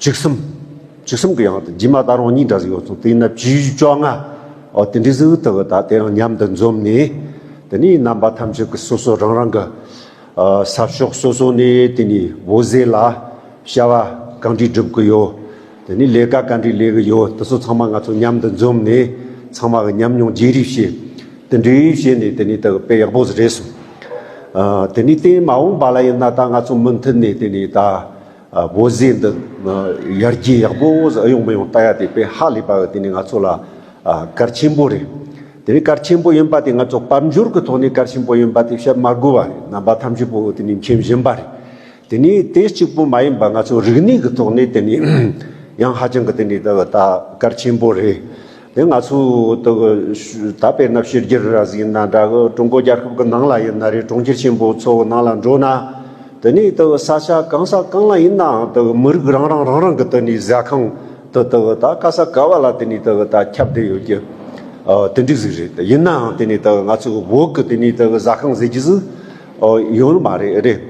བྱིས་གསུམ། བྱིས་གསུམ་གྱི་ཡང་དུ་རྗེས་མ་ད་རུང་གཉིས་འདྲ་ཟིག་ཡོད་སོང་དེ་ཡིན་ན་བྱིས་བཅོ་ལྔ། འོ་དེ་འདྲའི་ཟིག་ཐུབ་ད་དེ་རང་མཉམ་དུ་འཛོམས་ནས། དེ་ནས་རྣམ་པ་ཐམས་ཅད་ཀྱི་སོ་སོ་རང་རང་གི། ས་ཕྱོགས་སོ་སོ་ནས་དེ་ནས་འོད་ཟེར་ལ། བྱ་བ་གང་འདྲིས་སྒྲུབ་ཀྱི་ཡོད། དེ་ནས་ལས་ཀ་ག་འདྲིས་ལས་ཀྱི་ཡོད་དེ་ཚོ་ཚང་མ་ང་ཚོ་མཉམ་དུ་འཛོམས་ནས། ཚང་མ་གི་མཉམ་མྱོང་བརྗེ་རེས་བྱེད། དེ་འདྲིས་བྱེད་ནས་དེ་ནས་ད་དཔེ་ཡག་པོ་ཟིག་རེད་སོང། དེ་ནས་དེ་མ་འོངས་པ་ལ་ཡིན་ན་ད་ང་ཚོ་མུ་མཐུད་ནས་དེ་ནས་ད། བོད་ཟས་འདི་ཡར་རྒྱས་ཡག་པོ་ཟིག་ཨེ་ཡོང་མི་ཡོང་བལྟ་ཡ་དེ་དཔེ་ཧ་ལས་པ་འདི་ནི་ང་ཚོ་ལ་གར་ཆེན་པོ་རེད། དེ་ནི་གར་ཆེན་པོ་ཡིན་པ་དེ་ང་ཚོ་དཔལ་འབྱོར་གྱི་ཐོག་ནས་གར་ཆེན་པོ་ཡིན་པ་དེ་བཤད་མ་དགོས་པ་རེད་རྣམ་པ་ཐམས་ཅད་པོ་དེ་ནི་མཁྱེན་བཞིན་པ་རེད། དེ་ནི་དེ་གཅིག་པོ་མ་ཡིན་པ་ང་ཚོ་རིག་གནས་ཀྱི་ཐོག་ནས་དེ་ནི་ཡང་ཧ་ཅང་གི་དེ་ནི་ད་གར་ཆེན་པོ་རེད། དེ་ང་ཚོའི་ད་དཔེར་ན་ཕྱི་རྒྱལ་ར་བཟི་ཡིན་ན་འདྲ་གི་ཀྲུང་གོ་རྒྱལ་ཁབ་ཀྱི་ནང་ལ་ཡིན་ན་རེད་གྲོང་ཁྱེར་ཆེན་པོ་ཚོ་ནང་ལ་འགྲོ་ན་དེ་ནས་ས་ཆ་གང་ས་གང་ལ་ཡིན་ནའང་མི་རིགས་རང་རང་རང་རང་གི་ཟས་ཁང་དུ་ད་ག་ས་ག་བ་ལ་དེ་ནས་ད་ཁྱབ་བསྡད་ཡོད་ཀྱི་དེ་འདྲས་ཟིག་རེད་ཡིན་ནའང་དེ་ནས་ང་ཚོའི་བོད་ཀྱི་ཟ་ཁང་ཟེར་གྱི་ཟིག་ཡོད་ནི་མ་རེད་རེད།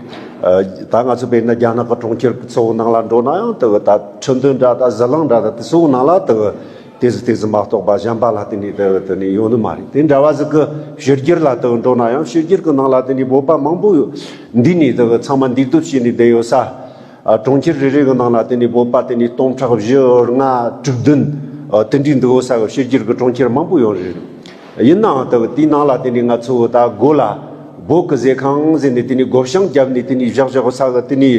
ད་ང་ཚོ་དཔེར་ན་རྒྱ་ནག་གི་གྲོང་ཁྱེར་གཙོ་བོ་ནང་ལ་འགྲོ་ན་ཡང་དེ་ད་ཁྲི་འདོན་འདྲ་ད་གཟི་གླིང་འདྲ་ད་དེ་ཚོ་ནང་ལ་དེ་དེ་ཟི་དེ་ཟི་མ་གཏོགས་པ་གཞན་པ་ལ་དེ་ནི་དེ་དེ་ནི་ཡོད་ནི་མ་རེད་དེ་འདྲ་བ་ཟི་གི་ཕྱི་རྒྱལ་ལ་དེ་འགྲོ་ན་ཡང་ཕྱི་རྒྱལ་གི་ནང་ལ་དེ་ནི་བོད་པ་མང་པོ་ཡོད་འདི་ནི་དེ་ཚང་མ་འདུས་སྡོད་བྱས་ནས་བསྡད་ཡོད་ས། གྲོང་ཁྱེར་རེ་རེ་གི་ནང་ལ་དེ་ནི་བོད་པ་དེ་ནི་སྟོང་ཕྲག་བཞི་ལྔ་དྲུག་བདུན་དེ་འདྲའི་འདུས་ཡོད་ས་གི་ཕྱི་རྒྱལ་གི་གྲོང་ཁྱེར་མང་པོ་ཡོད་རེད། ཡིན་ནའང་ལྟ་བུ་དེའི་ནང་ལ་དེ་ནི་ང་ཚོ་བོད་ད་སྒོ་ལ་སྒོ་ཀི་ཟེ་ཁང་ཟེ་ནས་དེ་ནི་སྒོ་བཤང་བརྒྱབ་ནས་དེ་ནི་བཞག་བཞག་གོ་ས་གི་དེ་ནི་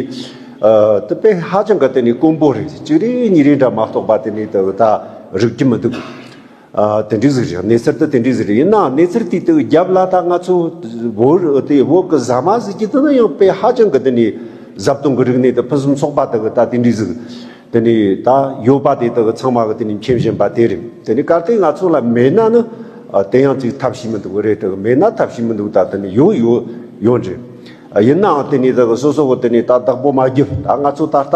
དེ་དཔེ་ཧ་ཅང་གི་དེ་ནི་དཀོན་པོ་རེད་གཅིག་རེད་གཉིས་རེད་འདྲ་མ་གཏོགས་པ་དེ་ནི་ལྟ་བུ་ད་རིག་གི་མི་འདུག་དེ་འདྲའི་ཟིག་རེད་གནས་ཚུལ་དེ་དེ་འདྲའི་ཟིག་རེད་ཡིན་ནའང་གནས་ཚུལ་དེ་དེ་བརྒྱབ་ལ་ད་ང་ཚོ་བོད་དེ་བོད་ཀི་ཟ་མ་ཟེ་གྱི་དེ་ནི་ཡང་དཔེ་ཧ་ཅང་གི་དེ་ནི་ཟབ་སྟོང་གི་རིག་གནས་དེ་ཕུན་སུམ་ཚོགས་པ་དེ་གི་ད་དེ་འདྲའི་ཟིག་དེ་ནི་ད་ཡོད་པ་དེ་དག་ཚང་མ་གི་དེ་ནི་མཁྱེན་བཞིན་པ་དེ་རེད་དེ་ནི་གལ་ཏེ་ང་ཚོ་ལ་མེད་ན་ནི་དེ་ཡང་ཅིག་ཐབས་ཤེས་མི་འདུག་རེད་དེ་མེད་ན་ཐབས་ཤེས་མི་འདུག་ད་དེ་ནི་ཡོད་ཡོད་ཡོད་རེད་ཡིན་ནའང་དེ་ནི་དེ་གི་སོ་སོ་གི་དེ་ནི་ད་བདག་པོ་མ་རྒྱུད་ད་ང་ཚོ་ད་ལྟ་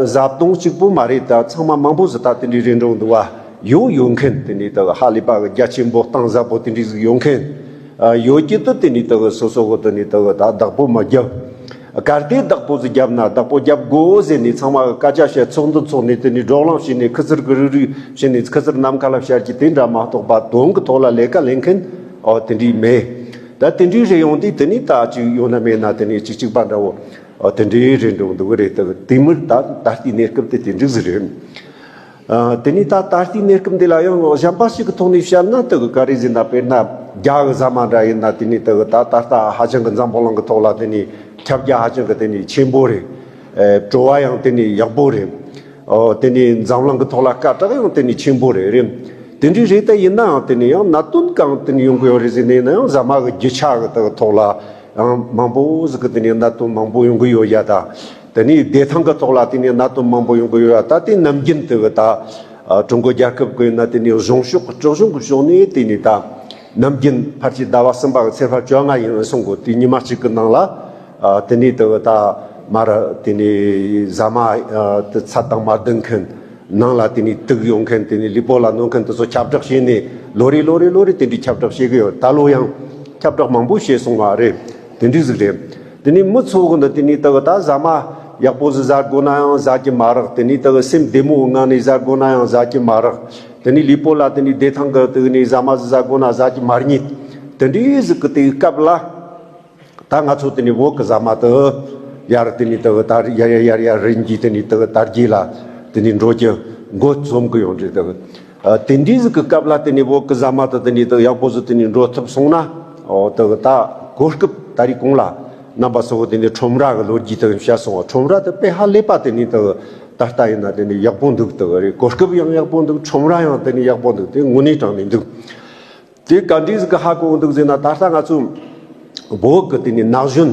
བཟའ་བཏུང་གཅིག་པོ་མ་རེད་ད་ཚང་མ་མང་པོ་ཟིག་ད་དེ་འདྲའི་རིན་འགྲོག་འདུག་བ་ཡོད་ཡོད་མཁན་དེ་ནི་དེ་གི་ཧ་ལས་པ་གི་རྒྱ་ཆེན་པོ་གཏང་ཟབ་པོ་དེ་འདྲའི་ཟིག་ཡོད་མཁན་ཡོད་ཀྱི་དུ་དེ་ནི་དེ་གི་སོ་སོ་གི་དེ་ནི་དེ་གི་ད་བདག་པོ་མ་རྒྱུད། གར་སྟེགས་བདག་པོ་ཟེ་བརྒྱབ་ན་བདག་པོ་བརྒྱབ་དགོས་ཟེར་ནས་ཚང་མ་སྐད་ཆ་བཤད་ཚོགས་འདུ་འཚོགས་ནས་དེ་ནས་སྒྲོག་ལམ་བྱས་ནས་ཁི་ཙིར་ཀི་རི་རུ་བྱས་ནས་ཁི་ཙིར་ནམ་མཁའ་ལ་བཤར་གྱི་དེ་འདྲ་མ་གཏོགས་པ་དོན་གྱི་ཐོག་ལ་ལས་ཀ་ལེན་མཁན་དེ་འདྲས་མེད། ད་དེ་འདྲས་རེད་ཡོང་དུས་དེ་ནས་ད་ཅིག་ཡོང་ན་མེད་ན་དེ་ནས་ཅིག་ཅིག་པ་འདྲ་བོ་དེ་འདྲས་རེད་འགྲོ་གི་འདུག་གི་རེད་དེ་མིར་ད་ལྟ་དེའི་གནས་སྐབས་དེ་དེ་འགྲིག་ཟིག་རེད། དེ་ནས་ད་ད་ལྟའི་གནས་སྐབས་འདི་ལ་ཡང་གཞན་པ་ཞིག་གི་ཐོག་ནས་བཤད་ན་དེ་གི་ཀ་རེ་ཟིན་ན་དཔེར་ན་རྒྱ་གི་ཟ་མ་འདྲ་ཡིན་ན་དེ་ནས་དེ་གི་ད་ད་ལྟ་ཧ་ཅང་གི་འཛམ་བུ་གླིང་གི་ཐོག་ལ་དེ་ནས་ཁྱབ་རྒྱ་ཧ་ཅང་གི་དེ་ནས་ཆེན་པོ་རེད། བྲོ་བ་ཡང་དེ་ནས་ཡག་པོ་རེད། དེ་ནས་འཛམ་གླིང་གི་ཐོག་ལ་སྐད་གྲགས་ཡང་དེ་ནས་ཆེན་པོ་རེད། དེ་འདྲའི་རེད་ད་ཡིན་ན་ཡང་དེ་ནས་ཡང་གནད་དོན་གང་དེ་ནས་ཡོང་གི་ཡོད་རེད་ཟེར་ནས་ཡིན་ན་ཡང་ཟ་མ་གི་རྒྱུ་ཆ་གི་དེ་གི་ཐོག་ལ་ཡང་མང་པོ་ཟིག་གི་དེ་ནས་གནད་དོན་མང་པོ་ཡོང་གི་ཡོད་རྒྱ་ད། དེ་ནས་བདེ་ཐང་གི་ཐོག་ལ་དེ་ནས་གནད་དོན་མང་པོ་ཡོང་གི་ཡོད་ད་ལྟའི་ནམ་རྒྱུན་དེ་གི་ད་ཀྲུང་གོ་རྒྱལ་ཁབ་གི་ནི་དེ་ནས་གཞུང་ཕྱོགས་གི་དཀྲོག་གཞུང་གི་ཕྱོགས་ནས་དེ་ནས་ད་ནམ་རྒྱུན་ཕར་ཆེར་ཟླ་བ་གསུམ་པ་གི་ཚེས་ཧྥ་བཅོ་ལྔ་ཡིན་འོད་སྲུང་གི་དུས་ཉི་མ་གཅིག་གི་ནང་ལ་དེ་ནས་དེ་གི་ད་མར་དེ་ནས་ཟ་མ་དེ་ཚ་དྭངས་མ་ལྡུང་མཁན་ནང་ལ་དེ་ནས་དུག་ཡོང་མཁན་དེ་ནས་ལུས་པོ་ལ་གནོད་མཁན་དེ་ཚོ་ཁྱབ་བསྒྲགས་བྱས་ནས་ལོ་རེ་ལོ་རེ་ལོ་རེ་དེ་འདྲའི་ཁྱབ་བསྒྲགས་བྱེད་གི་ཡོད་ད་ལོ་ཡང་ཁྱབ་བསྒྲགས་མང་པོ་བྱས་སོང་བ་རེད་དེ་འདྲའི་ཟིག་རེད། དེ་ནས་མི་ཚོགས་ཀུན་དུ་དེ་ནི་དག་ད་བཟའ་མ། ཡག་པོ་ཟི་བཟའ་དགོས་ན་ཡང་བཟའ་གྱི་མ་རག་དེ་ནི་དག་སེམས་བདེ་མོ་ངང་ནས་བཟའ་དགོས་ན་ཡང་བཟའ་གྱི་མ་རག། དེ་ནི་ལུས་པོ་ལ་དེ་ནི་བདེ་ཐང་གི་དུས་ནས་བཟའ་མ་ཟི་བཟའ་དགོས་ན་བཟའ་གྱི་མ་རྙེད། དེ་འདྲའི་གཟུགས་ཀྱི་དུས་སྐབས་ལ། ད་ང་ཚོ་དེ་ནི་འོག་གི་བཟའ་མ་དུ། ཡར་དེ་ནི་དག་ད་རི་ཡར་ཡར་ཡར་ཡར་རིན་གྱིས་དེ་ནི་དག་དར་རྒྱས་ལ། དེ་ནི་འགྲོ་ཀྱི། མགོ་རྩོམ་གྱི་ཡོང་འདྲི་དག། དེ་འདྲའི་གཟུགས་ཀྱི་སྐབས་ལ་དེ་ནས་བོད་ཀྱི་གཟའ་མ་དང་དེ་ནས་དང་ཡག་པོ་ཟུར་དེ་ནས་འགྲོ་ཐུབ་སོང་ན། དེ་ག་ད་གོ་སྐབས་ད་རེས་གོང་ལ་རྣམ་པ་གསལ་བོ་དེ་ནས་ཁྲོམ་ར་གི་ལོ་རྒྱུས་དང་བཤད་སོང་བ་ཁྲོམ་ར་དེ་དཔེ་ཧ་ལས་པ་དེ་ནས་དང་ད་ལྟ་ཡིན་ན་དེ་ནས་ཡག་པོ་འདུག་དེ་ག་རེས་གོ་སྐབས་ཡང་ཡག་པོ་འདུག་ཁྲོམ་ར་ཡང་དེ་ནས་ཡག་པོ་འདུག་དེ་དངོས་གནས་དྲང་ནས་འདུག། དེ་ག་འདྲའི་ཟིག་གི་ཧ་གོ་འདུག་ཟེར་ན་ད་ལྟ་ང་ཚོ་བོད་ཀྱི་དེ་ནས་ན་གཞོན་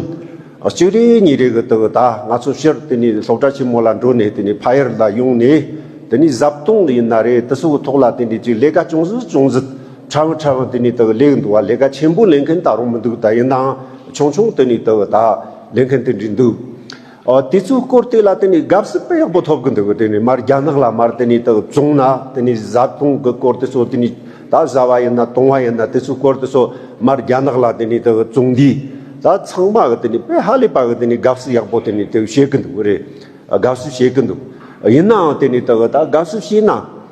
གཅིག་རེ་གཉིས་རེ་གི་དེ་ད་ང་ཚོ་ཕྱིར་དེ་ནས་སློབ་གྲྭ་ཆེན་མོ་ལ་འགྲོ་ནས་དེ་ནས་ཕ་ཡུལ་ལ་ཡོང་ནས་དེ་ནས་བཟའ་བཏུང་ཡིན་ན་རེ་དེ་སོག་གི་ཐོག་ལ་དེ་ནས་ཅིག་ལས་ཀ་ཅུང་ཟད་ཅུང་ཟད་ཕྲ་བོ་ཕྲ་བོ་དེ་ནས་དེ་ལས་འདུག་བ་ལས་ཀ་ཆེན་པོ་ལས་མཁན་ད་རུང་མི་འདུག་ད་ཡིན་ནའང་ཆུང་ཆུང་དེ་ནས་དེ་ད་ལས་མཁན་དེ་འདྲས་འདུག། དེ་ཚོའི་སྐོར་དེ་ལ་དེ་ནི་དགའ་བསུ་དཔེ་ཡག་པོ་ཐོབ་གི་འདུག་དེ་ནི་མར་རྒྱ་ནག་ལ་མར་དེ་ནི་དག་བཙོང་ན་དེ་ནི་བཟའ་བཏུང་གི་སྐོར་དེ་ཚོ་དེ་ནི་ད་བཟའ་བ་ཡིན་ན་བཏུང་བ་ཡིན་ན་དེ་ཚོའི་སྐོར་དེ་ཚོ་མར་རྒྱ་ནག་ལ་དེ་ནི་དག་བཙོང་དུས་ད་ཚང་མ་གི་དེ་ནི་དཔེ་ཧ་ལས་པ་གི་དེ་ནི་དགའ་བསུ་ཡག་པོ་དེ་ནི་དག་བྱེད་གི་འདུག་རེད་དགའ་བསུ་བྱེད་གི་འདུག་ཡིན་ནའང་དེ་ནི་དག་ད་དགའ་བསུ་བྱས་ན།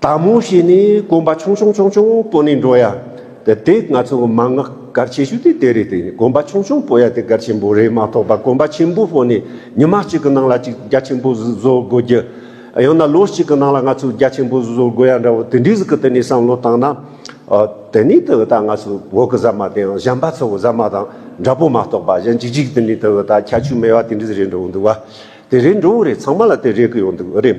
དག་མོ་ཞེས་ནི་གོམ་པ་ཆུང་ཆུང་ཆུང་ཆུང་པོ་ནས་འགྲོ་ཡ། དེ་ང་ཚོ་གི་མང་ངག་གར་ཆེ་ཤོས་དེ་དེ་རེད་དེ་གོམ་པ་ཆུང་ཆུང་པོ་ཡ་དེ་གར་ཆེན་པོ་རེད་མ་གཏོགས་པ་གོམ་པ་ཆེན་པོ་ཕོག་ནས་ཉི་མ་གཅིག་གི་ནང་ལ་གཅིག་རྒྱ་ཆེན་པོ་བཟོ་དགོས་རྒྱུ། ཡང་ན་ལོ་གཅིག་གི་ནང་ལ་ང་ཚོས་རྒྱ་ཆེན་པོ་བཟོ་དགོས་ཡ་འདྲ་བོ་དེ་འདྲའི་གི་དེ་ནས་བསམ་བློ་བཏང་ན། དེ་ནས་དེ་གི་ད་ང་ཚོ་བོད་གི་ཟ་མ་དེ་ཡང་གཞན་པ་ཚོ་གི་ཟ་མ་དང་འདྲ་པོ་མ་གཏོགས་པ་གཞན་གཅིག་གཅིག་དེ་ནས་དེ་གི་ད་ཁྱད་ཆོས་མེད་པ་དེ་འདྲའི་རེད་འགྲོ་འདུག་བ། དེ་རེད་འགྲོ་འི་རེད་ཚང་མ་ལ་དེ་རེད་གི་ཡོད་འདུག་རེད།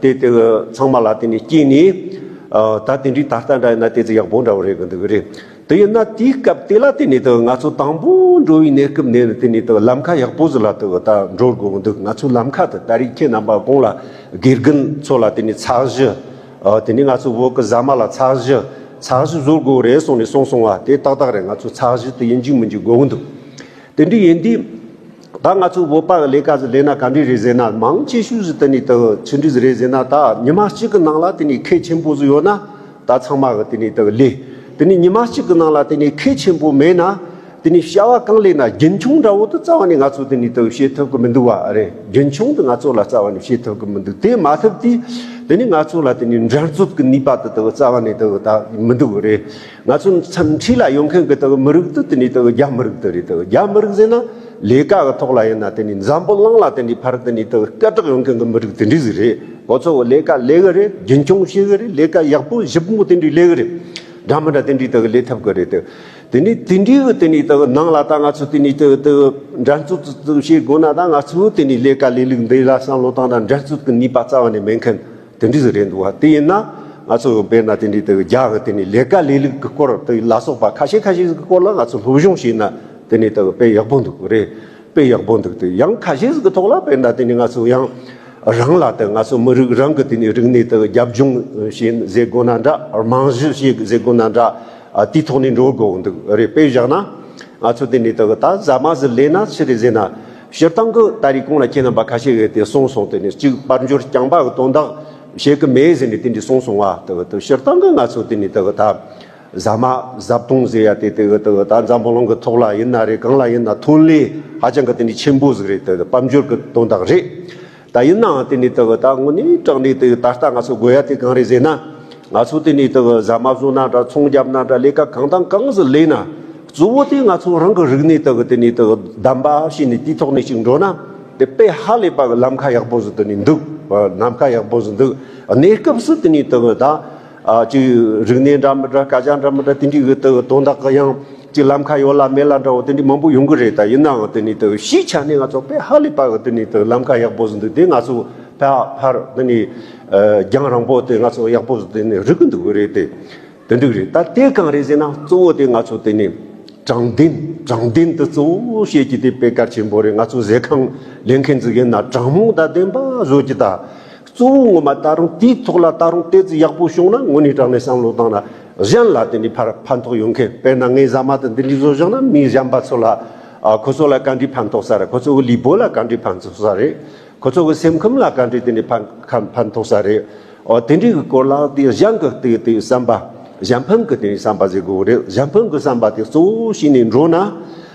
དེ་དེ་ཚང་མ་ལ་དེ་ནས་སྐྱེས་ནས། ད་དེ་འདྲའི་ད་ལྟ་འདྲ་ཡིན་ན་དེ་ཚོ་ཡག་པོ་འདྲ་བོ་རེད་གི་འདུག་གི་རེད། དེ་ཡིན་ན་དེའི་སྐབས་དེ་ལ་དེ་ནས་ད་ང་ཚོ་དང་པོ་འགྲོ་བའི་གནས་སྐབས་ནས་དེ་ནས་ད་ལམ་ཁ་ཡག་པོ་ཟིག་ལ་ད་འགྲོ་དགོས་གི་འདུག་ང་ཚོའི་ལམ་ཁ་དེ་ད་རིགས་ཁྱེད་རྣམ་པ་གོང་ལ་དགེ་རྒན་ཚོ་ལ་དེ་ནས་ཚགས་གཞི། དེ་ནས་ང་ཚོ་བོད་ཀྱི་ཟ་མ་ལ་ཚགས་གཞི། ཚགས་གཞི་བཟོ་དགོས་གི་རེད་གསུངས་ནས་གསུངས་སོང་བ་དེ་ཏག་ཏག་རེད་ང་ཚོ་ཚགས་གཞི་དེ་ཡིན་རྒྱུ་མིན་རྒྱུ་དགོས་གི་འདུག་དེ་འདྲའི་ཡིན་དུས། ད་ང་ཚོས་བོད་པ་གི་ལས་ཀ་ཟི་ལས་ན་ག་འདྲི་རེད་ཟེར་ན་མང་ཆེ་ཤོས་ཟི་དེ་ནི་དག་ཆི་འདྲི་ཟི་རེད་ཟེར་ན་ད་ཉི་མ་གཅིག་གི་ནང་ལ་དེ་ནི་ཁེ་ཆེན་པོ་ཟི་ཡོད་ན་ད་ཚང་མ་གི་དེ་ནི་དག་ལས་དེ་ནི་ཉི་མ་གཅིག་གི་ནང་ལ་དེ་ནི་ཁེ་ཆེན་པོ་མེད་ན་དེ་ནི་བྱ་བ་གང་ལས་ན་རྒྱུན་འཁྱོངས་འདྲ་བོ་དུ་རྩ་བ་ནས་ང་ཚོ་དེ་ནི་དག་བྱེད་ཐུབ་གི་མི་འདུག་བ་རེད་རྒྱུན་འཁྱོངས་དུ་ང་ཚོ་ལ་རྩ་བ་ནས་བྱེད་ཐུབ་གི་མི་འདུག་དེ་མ་ཐུབ་དུས་དེ་ནི་ང་ཚོ་ལ་དེ་ནི་འགྲན་རྩོད་གི་ནུས་པ་དུ་དག་རྩ་བ་ནས་དག་ད་མི་འདུག་རེད་ང་ཚོ་མཚམས་འཁྲིད་ལ་ཡོང་མཁན་གྱི་དག་མི་རིགས་དེ་དེ་ནི་དག་རྒྱ་མི་རིགས་དེ་རེད་དག་རྒྱ་མི་རིགས་ཟེར་ན་ལས་ཀ་གི་ཐོག་ལ་ཡིན་ན་དེ་ནི་འཛམ་བུ་གླིང་ལ་དེ་འདྲའི་ཕར་དེ་ནི་དག་སྐད་གྲགས་ཡོང་མཁན་གྱི་མི་རིགས་དེ་འདྲའི་ཟིག་རེད་ཁོ་ཚོ་གི་ལས་ཀ་ལས་གི་རེད་རྒྱུན་འཁྱོངས་བྱེད་གི་རེད་ལས་ཀ་ཡག་པོ་ཞིབ་མོ་དེ་འདྲའི་ལས་གི་རེད་འདྲ་མི་འདྲ་དེ་འདྲའི་དག་ལས་ཐབས་གི་རེད་དེ་ནི་དེ་འདྲའི་གི་དེ་ནི་དག་ནང་ལ་ད་ང་ཚོ་དེ་ནི་དེ་དེ་འགྲན་རྩོད་དེ་དག་བྱེད་དགོས་ན་ད་ང་ཚོའི་དེ་ནི་ལས་ཀ་ལས་ལུགས་འདི་ལ་བསམ་བློ་བཏང་ན་འགྲན་རྩོད་གི་ནུས་པ་རྩ་བ་ནས་མེད་མཁན། དེ་འདྲས་སུ་རེད་འདུག་བ་དེ་ཡིན་ན་ང་ཚོ་བས་ན་དེ་འདྲས་དེ་རྒྱ་གི་དེ་ནས་ལས་ཀ་ལས་ལུགས་ཀྱི་སྐོར་དེ་ལ་སོགས་པ་ཁ་ཤས་ཁ་ཤས་ཟིག་གི་སྐོར་ལ་ང་ཚོ་སློབ་སྦྱོང་བྱས་ན་དེ་ནས་དེ་དཔེ་ཡག་པོ་འདུག་རེད་དཔེ་ཡག་པོ་འདུག་དེ་ཡང་ཁ་ཤས་ཟིག་གི་ཐོག་ལ་བས་ན་དེ་ནས་ང་ཚོ་ཡང་རང་ལ་དེ་ང་ཚོ་མི་རིགས་རང་གི་དེ་ནས་རིག་གནས་དེ་རྒྱབ་ལྗོངས་བྱས་ཟེར་དགོས་ན་འདྲ་རྨང་གཞི་བྱས་ཟེར་དགོས་ན་འདྲ་དེའི་ཐོག་ནས་འགྲོ་དགོས་འདུག་རེད་དཔེ་བཞག་ན་ང་ཚོ་དེ་ནས་དེ་ད་གཟའ་མ་ཟིག་ལས་ན་ཕྱི་རེ་ཟེར་ན། སྤྱིར་བཏང་གི་ད་རེས་ཀུན་ལ་ཁྱེད་རྣམ་པ་ཁ་ཤས་ཡོད་དེ་གསུངས་སོང་དེ་ནས་གཅིག་པར་འགྱུར་རྐྱང་པ་གི་དོན་དག་བྱེད་ཀྱི་མེད་ཟེར་ནས་དེ་འདྲས་གསུངས་སོང་བ་དེ་གི་དེ་སྤྱིར་བཏང་གི་ང་ཚོས་དེ་ནས་དེ་གི་ད་ཟ་མ་ཟ་བཏུང་ཟེར་ཡ་དེ་དེ་གི་དེ་གི་ད་འཛམ་བུ་གླིང་གི་ཐོག་ལ་ཡིན་ན་རེད་གང་ལ་ཡིན་ན་ཐོན་ལས་ཧ་ཅང་གི་དེ་འདྲས་ཆེན་པོ་ཟིག་རེད་དེ་དེ་དཔལ་འབྱོར་གི་དོན་དག་རེད། ད་ཡིན་ནའང་དེ་ནས་དག་ད་དངོས་ནས་སྐྲག་ནས་དུ་ད་ལྟ་ང་ཚོ་དགོས་ཡ་དེ་གང་རེད་ཟེར་ན། ང་ཚོ་དེ་ནས་དུ་ཟ་མ་བཟོ་ན་འདྲ་ཚོང་རྒྱབ་ན་འདྲ་ལས་ཀ་གང་དང་གང་ཟིག་ལས་ན། གཙོ་བོ་དེ་ང་ཚོ་རང་གི་རིག་གནས་དག་དེ་ནས་དུ་བདམས་པ་བྱས་ནས་དེའི་ཐོག་ནས་ཅིག་འགྲོ་ན། དེ་དཔེ་ཧ་ལས་པ་གི་ལམ་ཁ་ཡག་པོ་ཟིག་དུ་ནས་འདུག། ལམ་ཁ་ཡག་པོ་ཟིག་འདུག་གནས་སྐབས་སུ་དེ་ནས་དུ་ད། གཅིག་རིག་གནས་འདྲ་མི་འདྲ་སྐད་ཆ་འདྲ་མི་འདྲ་དེ་འདྲའི་འོག་ཏུ་དོན་དག་གི་ཡང་གཅིག་ལམ་ཁ་ཡོད་ལ་མེད་ལ་འདྲ་བོ་དེ་འདྲའི་མང་པོ་ཡོང་གི་རེད་ད་ཡིན་ནའང་དེ་ནས་དུ་གཞིས་ཆགས་ནས་ང་ཚོ་ཕལ་ཧ་ལས་པ་གི་དེ་ནས་དུ་ལམ་ཁ་ཡག་པོ་ཟིན་འདུག་དེ་ང་ཚོ་ཕལ་ཕར་དེ་ནས་རྒྱང་རིང་པོ་དེ་ང་ཚོ་ཡག་པོ་དེ་ནས་རིག་གི་འདུག་རེད་དེ་དེ་འདྲའི་རེད་ད་དེ་གང་རེད་ཟེར་ན་གཙོ་བོ་དེ་ང་ཚོ་དེ་ནས་དྲང་བདེན་དྲང་བདེན་དེ་གཙོ་བོ་བཤད་ཀྱི་དེ་དཔེ་དཀར་ཆེན་པོ་རེད་ང་ཚོ་ཟས་ཁང་ལེན་མཁན་ཟིག་ཡིན་ན་དྲང་མོ་དང་བདེན་པ་བཟོ་ཀྱི་ད། གཙོ་བོ་ངོ་མ་ད་རུང་དེའི་ཐོག་ལ་ད་རུང་དེ་ཙི་ཡག་པོ་བྱུང་ན་དངོས་གནས་དྲང་གནས་བསམ་བློ་བཏང་ན་གཞན་ལ་དེ་འདྲའི་ཕར་ཕན་ཐོགས་ཡོད་མཁན་དཔེར་ན་ངའི་ཟ་མ་དང་འདི་འདྲའི་བཟོ་བཞག་ན་མི་གཞན་པ་ཚོ་ལ་ཁོ་ཚོ་ལ་ག་འདྲའི་ཕན་ཐོགས་ས་རེད་ཁོ་ཚོ་གི་ལུས་པོ་ལ་ག་འདྲའི་ཕན་ཐོགས་ས་རེད་ཁོ་ཚོ་གི་སེམས་ཁམས་ལ་ག་འདྲའི་དེ་འདྲའི་ཕན་ཕན་ཐོགས་ས་རེད་ཨོ་དེ་འདྲའི་གི་སྐོར་ལ་དེ་གཞན་གི་དེ་དེ་བསམ་པ་གཞན་ཕན་གི་དེ་བསམ་པ་བཟོས་དགོས་རེད་གཞན་ཕན་གི་བསམ་པ་དེ་གཙོ་བོ་བྱས་ནས་འགྲོ་ན།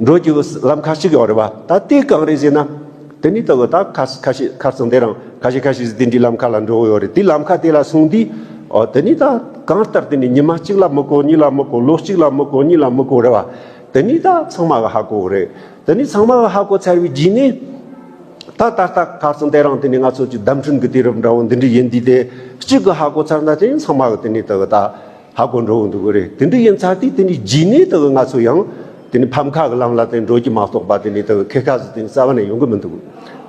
འགྲོ་རྒྱུ་ལམ་ཁ་ཅིག་ཡོད་རེད་བ། ད་དེ་གང་རེད་ཟེར་ན། དེ་ནི་ད་གོ་ད་ཁ་ཁ་ཤས་ཁ་ཚང་དེ་རང་ཁ་ཤས་ཁ་ཤས་ཟིག་དེ་འདྲའི་ལམ་ཁ་ལ་འགྲོ་གི་ཡོད་རེད་དེ་ལམ་ཁ་དེ་ལ་སོང་དུས། ཨོ་དེ་ནི་ད་གང་ལྟར་དེ་ནི་ཉི་མ་གཅིག་ལ་མི་གོ་གཉིས་ལ་མི་གོ་ལོ་གཅིག་ལ་མི་གོ་གཉིས་ལ་མི་གོ་རེད་བ། དེ་ནི་ད་ཚང་མ་ག་ཧ་གོ་གི་རེད། དེ་ནི་ཚང་མ་ག་ཧ་གོ་ཚར་བའི་རྗེས་ནས། ད་ད་ལྟ་ཁ་ཚང་དེ་རང་དེ་ནི་ང་ཚོ་ཀྱི་བདམས་ཐོན་གྱི་དུས་རབས་འདྲ་བོ་འདི་འདྲའི་ཡིན་དུས་དེ་གཅིག་གི་ཧ་གོ་ཚར་ན་དེ་ནི་ཚང་མ་གི་དེ་ནི་ད་གོ་ད། ཧ་གོ་འགྲོ་འོང་འདུག་གོ་རེད་དེ་འདི་ཡིན་ཚར་དུས་དེ་ནི་རྗེས་ནས་དག་ང་ཚོ་ཡང་དེ་ནི་ཕམ་ཁ་གི་ལམ་ལ་དེ་འགྲོ་རྒྱུ་མ་གཏོགས་པ་དེ་ནི་དག་ཁེ་ཁ་ཟི་དེ་ནི་རྩ་བ་ནས་ཡོང་གི་མི་འདུག་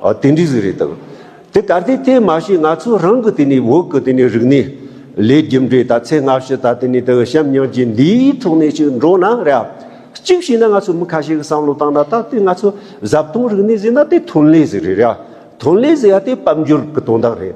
ཨོ་དེ་འདྲི་ཟི་རེད་དག་དེ་ད་ལྟའི་དེ་མ་ཤེས་ང་ཚོ་རང་གི་དེ་ནི་འོག་གི་དེ་ནི་རིག་གནས་ལས་རྒྱུ་འབྲས་ད་ཚེ་སྔ་ཕྱི་ད་དེ་ནི་དག་ཞབས་ཉང་རྗེ་འདིའི་ཐོག་ནས་ཅིག་འགྲོ་ན་རེད་ཨ་གཅིག་ཤེས་ན་ང་ཚོ་མི་ཁ་ཤས་ཀི་བསམ་བློ་བཏང་ན་ད་དེ་ང་ཚོ་ཟབ་དོང་རིག་གནས་ཟེར་ན་དེ་ཐོན་ལས་ཟེར་རེད་ཨ་ཐོན་ལས་ཟེར་ཡ་དེ་དཔལ་འབྱོར་གི་དོན་དག་རེད།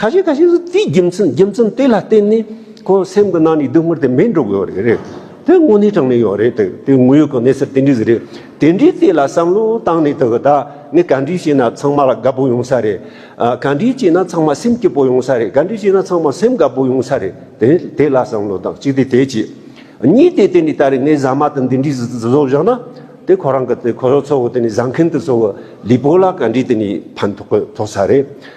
ཁ་ཤས་ཁ་ཤས་སུ་དེའི་རྒྱུ་མཚན་རྒྱུ་མཚན་དེ་ལ་བརྟེན་ནས་ཁོ་སེམས་ཀྱི་ནང་ནས་སྡུག་བསྔལ་དེ་མི་འགྲོ་དགོས་རེད་རེད་དེ་དངོས་གནས་དྲང་གནས་ཡོད་རེད་དེ་དེ་དངོས་ཡོད་ཀྱི་གནས་ཚུལ་དེ་འདྲས་ཟིག་རེད་དེ་འདྲས་དེ་ལ་བསམ་བློ་བཏང་ནས་དེ་གི་ད་ངས་ག་འདྲས་བྱས་ན་ཚང་མ་ལ་དགའ་པོ་ཡོང་ས་རེད་ག་འདྲས་བྱས་ན་ཚང་མ་སེམས་སྐྱིད་པོ་ཡོང་ས་རེད་ག་འདྲས་བྱས་ན་ཚང་མ་སེམས་དགའ་པོ་ཡོང་ས་རེད་དེ་དེ་ལ་བསམ་བློ་བཏང་གཅིག་དེ་དེ་གཅིག་གཉིས་དེ་དེ་འདྲས་ད་རེས་ངས་ཟ་མ་དང་འདི་འདྲས་ཟིག་བཟོ་བཞག་ན་དེ་ཁོ་རང་གི་དེ་ཁོ་ཚོ་ཚོ་དེ་ནས་བཟའ་མཁན་དེ་ཚོ་གི་ལུས་པོ་ལ་ག་འདྲས་དེ་ནས་ཕན་ཐོགས་ཐོགས་ས་རེད།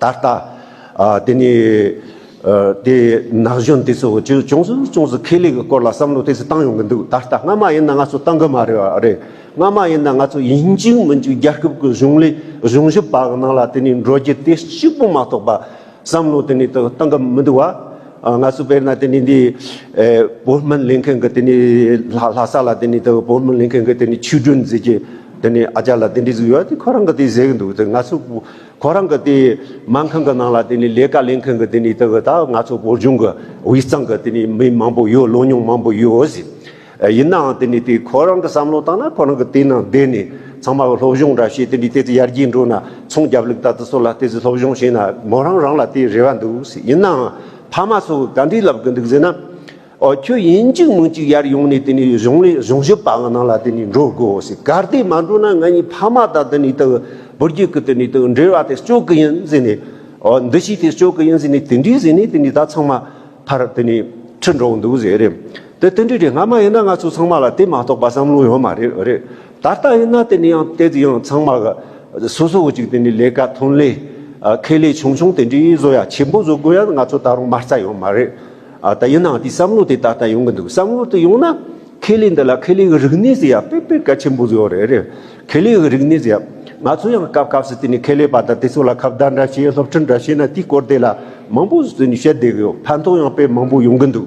ད་ལྟ། དེ་ནི། དེ་ནག་གཞོན་དེ་ཚོ་ཅུང་ཅུང་ཟུར་ཅུང་ཟུར་ཁེ་ལས་ཀྱི་སྐོར་ལ་བསམ་བློ་དེ་ཚོ་བཏང་ཡོང་གི་འདུག་ད་ལྟ་སྔ་མ་ཡིན་ན་ང་ཚོ་བཏང་གི་མ་རེད་རེད། སྔ་མ་ཡིན་ན་ང་ཚོ་ཡིན་གཅིག་མིན་གཅིག་རྒྱལ་ཁབ་ཀྱི་གཞུང་ལས་གཞུང་ཞབས་པ་ནང་ལ་དེ་ནི་འགྲོ་རྒྱུ་དེ་གཅིག་པུ་མ་གཏོགས་པ། བསམ་བློ་དེ་ནི་བཏང་གི་མི་འདུག་བ། ང་ཚོ་དཔེར་ན་དེ་ནི་འདི། བོད་སྨན་ལེན་མཁན་གྱི་དེ་ནི་ལྷ་ས་ལ་དེ་ནི་བོད་སྨན་ལེན་མཁན་གྱི་དེ་ནི་ཆོས་སྒྲོན་ཟེར་གྱི། དེ་ནི་ཨ་ཅག་ལ་དེ་འདྲས་ཟིག་ཡོད་དེ་ཁོ་རང་གི་དེ་ཟེར་གྱི་འདུག་ང་ཚོ། ཁོ་རང་གི་དེའི་སྨན་ཁང་གི་ནང་ལ་དེ་ནས་ལས་ཀ་ལས་མཁན་གི་དེ་ནས་དེ་གི་ད་ང་ཚོ་བོད་ལྗོངས་ཀྱི་དབུས་གཙང་གི་དེ་ནས་མི་མང་པོ་ཡོད་བློ་མྱོང་མང་པོ་ཡོད་ཟེར། ཡིན་ནའང་དེ་ནས་དེ་ཁོ་རང་གི་བསམ་བློ་དང་ན་ཁོ་རང་གི་དེ་ནང་བསྡད་ནས་ཚང་མ་སློབ་སྦྱོང་འདྲ་བྱས་དེ་ནས་དེ་ཚོ་ཡར་རྒྱས་འགྲོ་ན་ཚོང་རྒྱབ་ལུགས་ད་དེ་ཚོ་ལ་དེ་ཚོ་སློབ་སྦྱོང་བྱས་ན་མོ་རང་རང་ལ་དེ་རེ་བ་འདུག་ཟེར་ཡིན་ནའང་ཕ་མ་ཚོ་ག་འདྲས་ལབ་གི་འདུག་ཟེར་ན། ཨོ་ཁྱོད་ཡིན་གཅིག་མིན་གཅིག་ཡར་ཡོང་ནས་དེ་ནས་གཞུང་ལས་གཞུང་ཞབས་པ་ང་ནང་ལ་དེ་ནས་འགྲོ་དགོས་ཟེར་གར་དེ་མ་འགྲོ་ན་ང་གཉིས་ཕ་མ་དང་དེ་ནས་དང་བུ་རྒྱུད་ཀྱི་དེ་ནས་དང་འབྲེལ་བ་དེ་གཅོད་གི་ཡིན་ཟེར་ནས་ཨོ་འདི་ཞིག་དེ་གཅོད་གི་ཡིན་ཟེར་ནས་དེ་འདྲས་ཟེར་ནས་དེ་ནས་ད་ཚང་མ་ཕར་དེ་ནས་ཁྲིད་འགྲོ་གི་འདུག་ཟེར་རེད་དེ་དེ་འདྲས་རེད་སྔ་མ་ཡིན་ན་ང་ཚོ་ཚང་མ་ལ་དེ་མ་གཏོགས་པ་བསམ་བློ་ཡོད་མ་རེད་རེད་ད་ལྟ་ཡིན་ན་དེ་ནས་ཡང་དེ་དེ་ཡང་ཚང་མ་གི་སོ་སོ་བུ་གཅིག་དེ་ནས་ལས་ཀ་ཐོན་ལས་ཁེ་ལས་ཆུང་ཆུང་དེ་འདྲས་བཟོ་ཡ་ཆེན་པོ་བཟོ་དགོས་ཡ་ང་ཚོ་ད་རུང་མ་རྩ་ཡོད་མ་རེད། ཨ་ད་ཡིན་ནའང་དེའི་བསམ་བློ་དེ་ད་ལྟ་ཡོང་གི་འདུག་བསམ་བློ་དེ་ཡོང་ན། ཁེ་ལས་འདི་ལ་ཁེ་ལས་ཀྱི་རིག་གནས་སུ་ཡང་དཔེ་དཔེ་གལ་ཆེན་པོ་ཡོད་རེད། ཁེ་ལས་ཀྱི་རིག་གནས་སུ་ཡང། ང་ཚོ་ཡང་སྐབས་སྐབས་སུ་དེ་ནས་ཁེ་ལས་པ་དང་དེ་ཚོ་ལ་ཁ་བརྡ་འདྲ་བྱས་སློབ་ཁྲིད་འདྲ་བྱས་ན་དེའི་སྐོར་དེ་ལ་མང་པོ་བསྟོན་བཤད་བསྡད་ཀྱི་ཡོད་ཕན་ཐོགས་ཡང་དཔེ་མང་པོ་ཡོང་གི་འདུག།